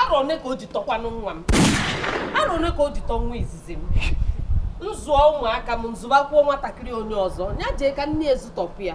arọ one ka o ji tọkwanụ nwa m arọ one ka o ji tọ nwa izizi m m zụọ ụmụaka m m zụbakwuo nwatakịrị onye ọzọ ya jee ka nne ya zụtopụ ya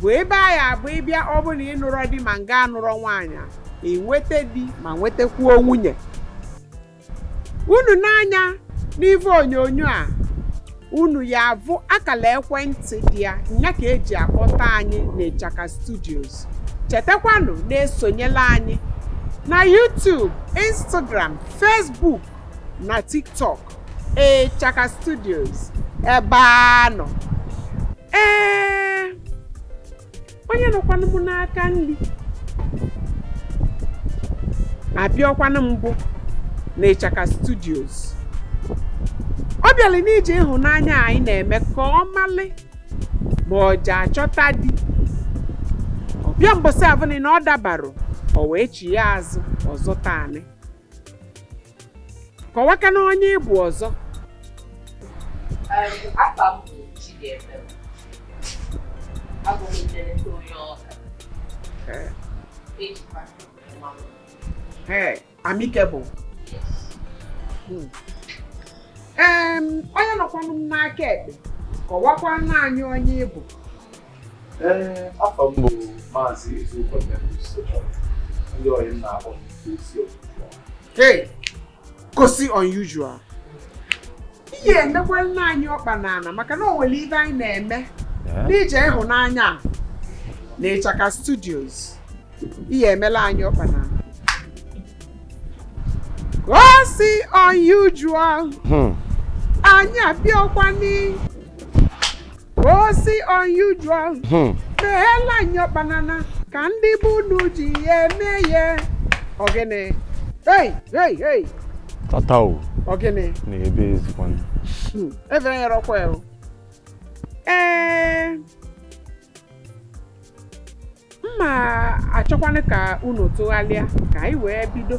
bụ ebe a ya-abụ ị bịa ọ bụ na ị nụrọ di ma ngị anụrọ nwaanyị, i nweta di ma nwetakwuo nwunye unu nee anya n'ife onyonyo a unu ya-avụ akala ekwentị dị ya nya ka e ji akpọta anyị n'Ịchaka Studios chetakwanụ na-esonyela anyị na YouTube, Instagram, Facebook na TikTok Ịchaka Studios ebe a nọ ee onye nọkwanụ m n'aka nri abịakwanụ mbụ na ịchaka studios ọ bịalị n'ije ịhụnanya anyị na-eme ka ọ malị ma ọ ja-achọta di ọ bịa mbọsị avụnị na ọ dabarọ o wee chie azụ ọzọ taanị kọwakwanụ onye ị bụ ọzọ afa m bụ Chidiebere abụ m nleleta onye Ọka Ee, ejikwa mma m ee, amike bụ Hmm. Em, onye nọkwanụ m n'aka ekpe kọwakwala anyị onye ị bụ Ee, afa m bụ Maazị Ezeukwu Nnebusochọ. Ndị ọyị m na-akpọ m isi ofufe. Hey, gosi unusual. Ị ya-emekwala anyị ọkpa n'ala maka na o nwere ive anyị na-eme n'ije ịhụnanya a na Ịchaka Studios. Ị ya-emela anyị ọkpa n'ala. Gosi unusual. Hmm. Anyị abịakwa n'i osi unusual Hmm. meela anyị ọkpa n'ana ka ndị be unu ji eme ya ọ gịnị hei hei hei tata o ọ gịnị na ebe ezikwanụ Hmm, efere nyere ọkwa ya o. ee mma achọkwanụ ka unu tụghalịa ka anyị wee bido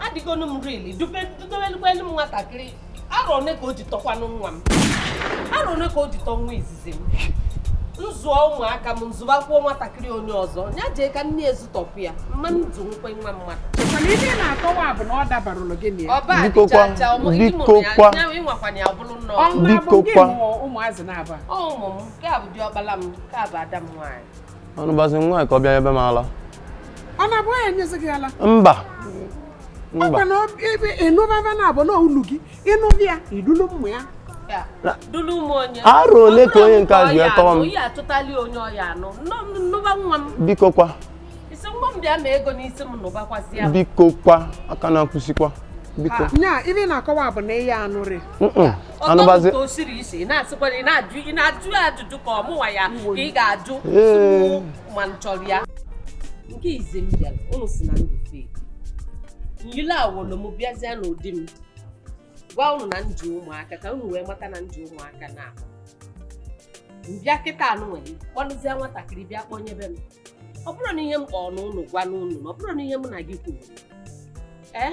adịgonu m rili dubelukwa elu m nwatakịrị arọ one ka o ji tọkwanụ nwa m arọ one ka o ji tọ nwa izizi m m zụọ ụmụaka m m zụbakwuo nwatakịrị onye ọzọ ya jee ka nne ya zụtopụ ya mma m nzu nkwe nwa mmadụ mana ihe ị na-akọwa bụ na ọ dabarọlụ gị na ya ọba Biko kwa, adịchacha ọmụ ndị biko mụrụ ya kwa. ya ịnwakwanye ya ọbụrụ nnọọ ọnwa bụ Biko ndị kwa. mụọ ụmụazị na-aba ọ ụmụ m nke a bụ diọkpala m nke a bụ ada m nwaanyị anụbazi nwa ya ka ọ bịa ebe m ala ọ na-abụ ya enyezi gị ala mba mba ọkwa na ọ- ebe ịnụbaba na abụ na ulu gị ịnụbụ ya idulu mmụ ya dulu m onye Arọ ole ka onye nke a ji wee tọọ m? onye achọtali onye ọ ya-anụ Nọ- nụba nwa m biko kwa isi nwa m bịa ma ego n'isi m nụbakwazi ya biko kwa aka na-akwụsịkwa biko nya ife ị na-akọwa bụ na ị ya-anụrị Mm-mm. anụbazi Ọtọ ka o siri isi ị na-asịkwara ị na-ajụ ị na-ajụ ya ajụjụ ka ọ mụnwa ya ka ị ga-ajụ Ee. tupu ma m chọrọ ya nke izi m bịara ụnụ si na ndị fake nyile awolo m bịazie n'ụdị m gwa ụnụ na m ji ụmụaka ka ụnụ wee mata na m ji ụmụaka na m bịa kịta ụnụ were kpọlụzie nwatakịrị bịa kpọnyebe m ọ bụrụ na ihe m kpọọ n'ụnụ gwa n'ụnụ na ọ bụrụ na ihe mụ na gị kwuru ee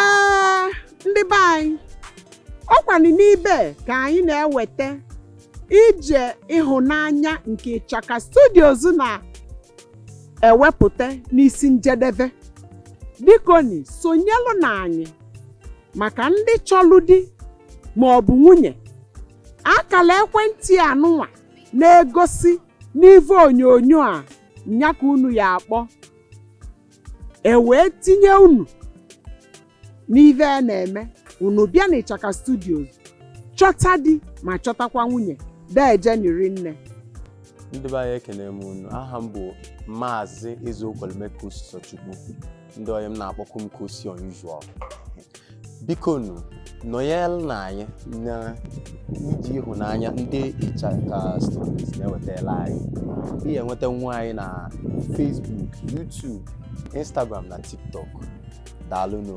ee ndị be anyị ọ kwanụ n'ibe ka anyị na-eweta ije ịhụnanya nke ịchaka studios na-ewepụta n'isi njedebe bikoni sonyelụnụ anyị maka ndị chọlụ di ma ọ bụ nwunye akala ekwentị anụnwa na-egosi n'ivu onyonyo a nya ka unu ya-akpọ e wee tinye unu n'ive a na-eme unu bịa n'ịchaka studios chọta di ma chọtakwa nwunye dejeni rinne ndị be anyị ekene m unu aha m bụ maazị ezeokwelume kosisochukwu ndị ọyị m na-akpọkwu m kosi unusual bikonu nọnyelụnụ anyị n'ije ịhụnanya ndị ịchaka studios na-ewetara anyị ị ya-enwetanwu anyị na Facebook YouTube Instagram na TikTok daalụnụ